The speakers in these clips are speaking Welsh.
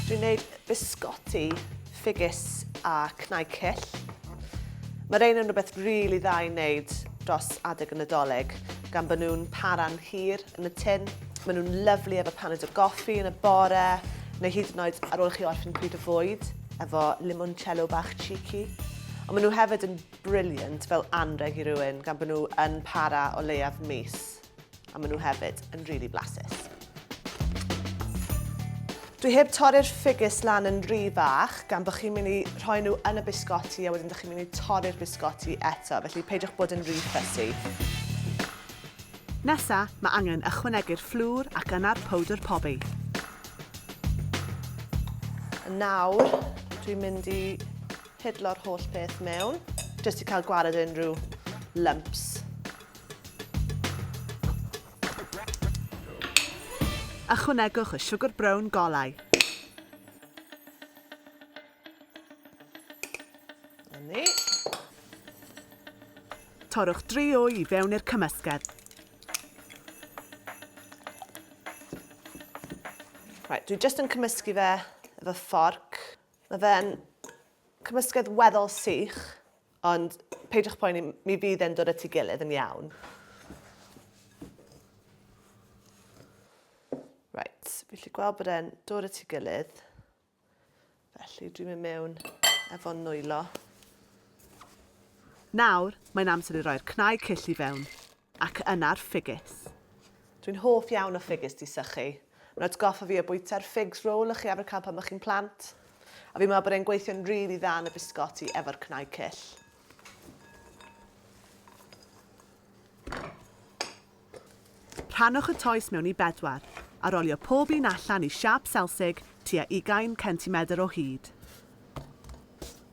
Dwi'n gwneud bisgoti, ffigys a cnau cyll. Mae rhein yn rhywbeth rili really dda i wneud dros adeg y Nadolig, gan bod nhw'n para'n hir yn y tin. Maen nhw'n lyflu efo paned o goffi yn y bore, neu hyd yn oed ar ôl i chi orffen pryd o fwyd, efo limoncello bach cheeky. Ond maen nhw hefyd yn brilliant fel anrheg i rywun gan bod nhw yn para o leiaf mis. A maen nhw hefyd yn really blasus. Dwi heb torri'r ffigus lan yn rhy fach gan bod chi'n mynd i rhoi nhw yn y bisgoti a wedyn ydych chi'n mynd i torri'r bisgoti eto, felly peidiwch bod yn rhy fussy. Nesa, mae angen ychwanegu'r fflwr ac yna'r powdr pobi. Nawr, dwi'n mynd i Pidlo'r holl peth mewn, jyst i cael gwared unrhyw lumps. Ychwanegwch y siwgr brown golau. Yni. Torrwch dri wy i fewn i'r cymysgedd. Right, dwi jyst yn cymysgu fe efo fforc. Mae fe'n cymysgedd weddol sych, ond peidiwch poeni, mi fydd e'n dod at ei gilydd yn iawn. Right, fi lli gweld bod e'n dod at ei gilydd. Felly dwi'n mynd mewn efo'n nwylo. Nawr, mae'n amser i roi'r cnau cyll i fewn. ac yna'r ffigys. Dwi'n hoff iawn o ffigys di sychu. Mae'n atgoffa fi o bwyta'r figs roll o'ch chi arfer cael pan o'ch chi'n plant. A fi'n meddwl bod e'n gweithio'n rili dda yn y bisgoti efo'r cnau cyll. Rhannwch y toes mewn i bedwar, a rolio pob un allan i siâp selsig tua ugain centimedr o hyd.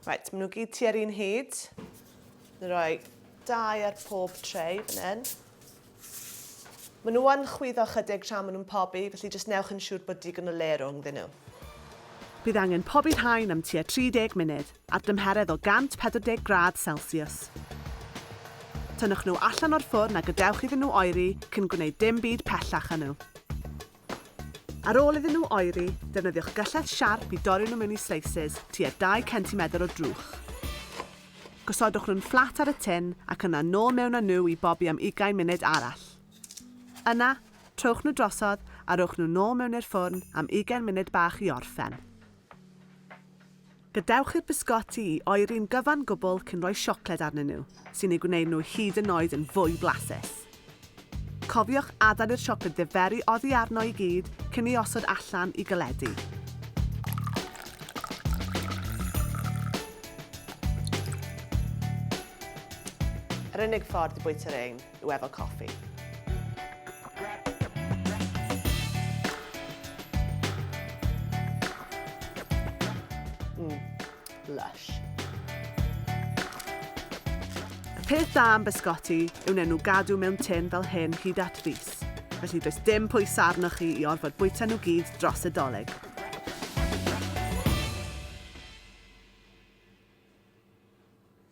Reit, maen nhw gyd tua'r un hyd. Roi Dau ar pob tray fan hyn. Maen nhw yn chwyddo ychydig tra maen nhw'n pobi, felly jyst newch yn siŵr bod digon o le rhwngddyn nhw. Bydd angen pobi'r rhain am tua 30 munud, ar dymheredd o 140 gradd selsiws. Tynnwch nhw allan o'r ffwrn a gadewch iddyn nhw oeri cyn gwneud dim byd pellach â nhw. Ar ôl iddyn nhw oeri, defnyddiwch gyllell siarp i dorri nhw mewn i slices tua dau centimetr o drwch. Gosodwch nhw'n fflat ar y tin ac yna nôl mewn â nhw i bobi am ugain munud arall. Yna, trowch nhw drosodd a rhowch nhw nôl mewn i'r ffwrn am ugain munud bach i orffen. Gadewch i'r bisgoti i oeri'n gyfan gwbl cyn rhoi siocled arnyn nhw, sy'n eu gwneud nhw hyd yn oed yn fwy blasus. Cofiwch adael i'r siocled ddiferi oddi arno i gyd cyn ei osod allan i galedu. Yr unig ffordd i bwyta rhein. yw efo coffi. Mm, lush. Y peth da am bysgoti yw nen nhw gadw mewn tin fel hyn hyd at fus, felly does dim pwys arnoch chi i orfod bwyta nhw gyd dros y doleg.